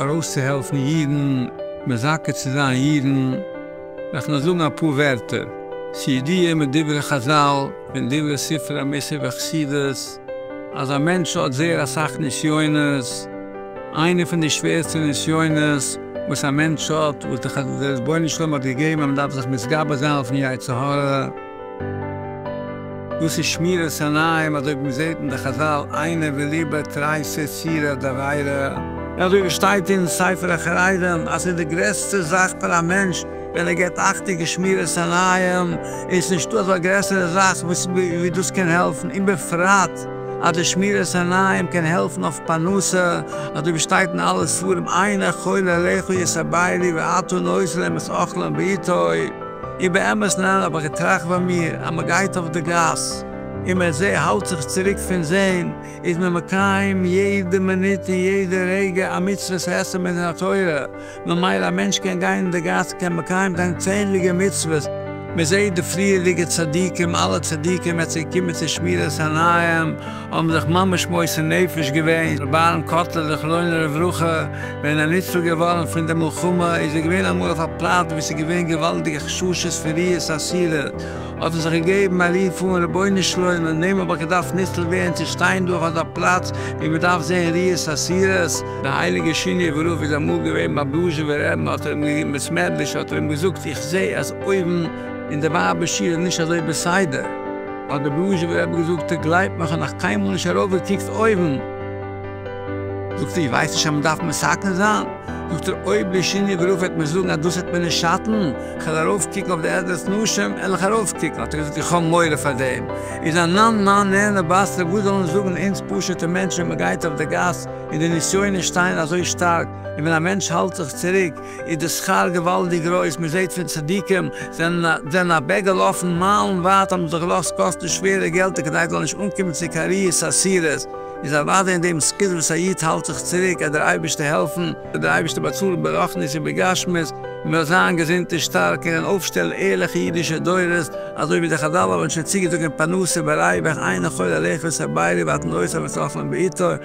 ארויסצוהעלפן אידן, מזכה צו זיין אידן, וועל איך נאר זאגן אפאר ווערטער, ס'ידיעה מדברי חזל, פון דברי ספרי המוסר והחסידות, אז א מענטש האט זייער אסאך נסיונות, איינע פון די שווערסטע נסיונות וואס א מענטש האט, וואס דער רבונו של עולם האט געגעבן אז מ'דארף זיך מתגבר זיין אויפן יצר הרע, דאס איז שמירת עיניים אזוי ווי מ'זעט אין די חזל עינה וליבה תרייסע סירא דאריירא, און אזוי ווי שטייט אין ספר החרדים אז ס'איז די גרעסטע זאך פאר א מענטש ווען ער געבט אכטונג אין שמירת עיניים, און ס'נישטא אזא גרעסערע זאך ווי דאס קען העלפן, און בפרט אז די שמירת עיניים קען העלפן אויף פרנסה, אזוי ווי שטייט אין אלע ספרים עיניך כל אליך יסביילי ואתון אויס להם את אוכלם בעיתו. און באמת ניין אבער כ'טראכט ביי מיר אז מ'גייט אויף די גאס און מען זעהט האלט זיך צוריק פון זעהן איז מען מקיים יעדע מינוט און יעדע רגע א מצוות עשה מדין התורה ממילא א מענטש קען גיין אין די גאס קען מקיים זיין צענדליגע מצוות מ'זעהט די פריערדיגע צדיקים אלע צדיקים ווען ס'געקומען צו שמירת עיניים האבן זיך ממש מוסר נפש געווען, רבי'ן קאטלער זכרונו לברכה ווען ער ניצל געווארן פון די מלחמה איז ער געווען אמאל אויף א פלאץ וואו עס איז געווען געוואלדיגע חששות פון ריאות אסירות, האט ער זיך געגעבן א רוף אן, רבונו של עולם אין דעם האב איך געדארפט ניצל ווערן צו שטיין דא אויף אזא פלאץ וואו מען דארף זען ריאות אסירות. די הייליגע שינאווער רב איז אמאל געווען ביים דזשיבער רעבן האט ער אים געגעבן בית מדרש האט ער אים געזאגט איך זעה אז אויבן אין די ווייבער שול איז נישט אזוי בסדר, האט דער בלוזשובער רבי געזאגט, איך גלייב מיך האב נאך קיינמאל נישט ארויפגעקוקט אויבן. זאגט ער, איך ווייס נישט אז מען דארף מסכם זיין. זאגט ער, אויב לשינוי וראו וועט מען זאגן אז דאס וועט מיר נישט שאטן, איך וועל ארויפקוקן אויף די עזרת נשים, עלעך ארויפקוקן. האט ער געזאגט, איך האב מורא פאר דעם, איז א נאן מאן נער נבשר, וואס זאלן זאגן אונז פשוטע מענטשן ווען מען גייט אויף די גאס און די נסיונות שטייען אזוי שטארק, און ווען א מענטש האלט זיך צוריק, איז די שכר געוואלדיג גרויס, מען זעט פון צדיקים זענען אוועק געלאפן מיילן ווייט האבן זיך געלאזט קאסטן שווערע געלטער כדי זיי זאלן נישט אנקומען צו קאריעס אסירות, איז אוודאי אין דעם זכות וואס א איד האלט זיך צוריק עט דער אייבערשטער העלפן, וועט דער אייבערשטער באצאלן ברחנית און בגשמית, מען וועל זיין געזונט און שטארק און וועלן אויפשטעלן ערליכע אידישע דורות, אזוי ווי די חזל האבן שוין צוגעזאגט אין פרנסה בריווח עיין החול על איכות הבעירה ואתן עושות וצלחן בעיתו,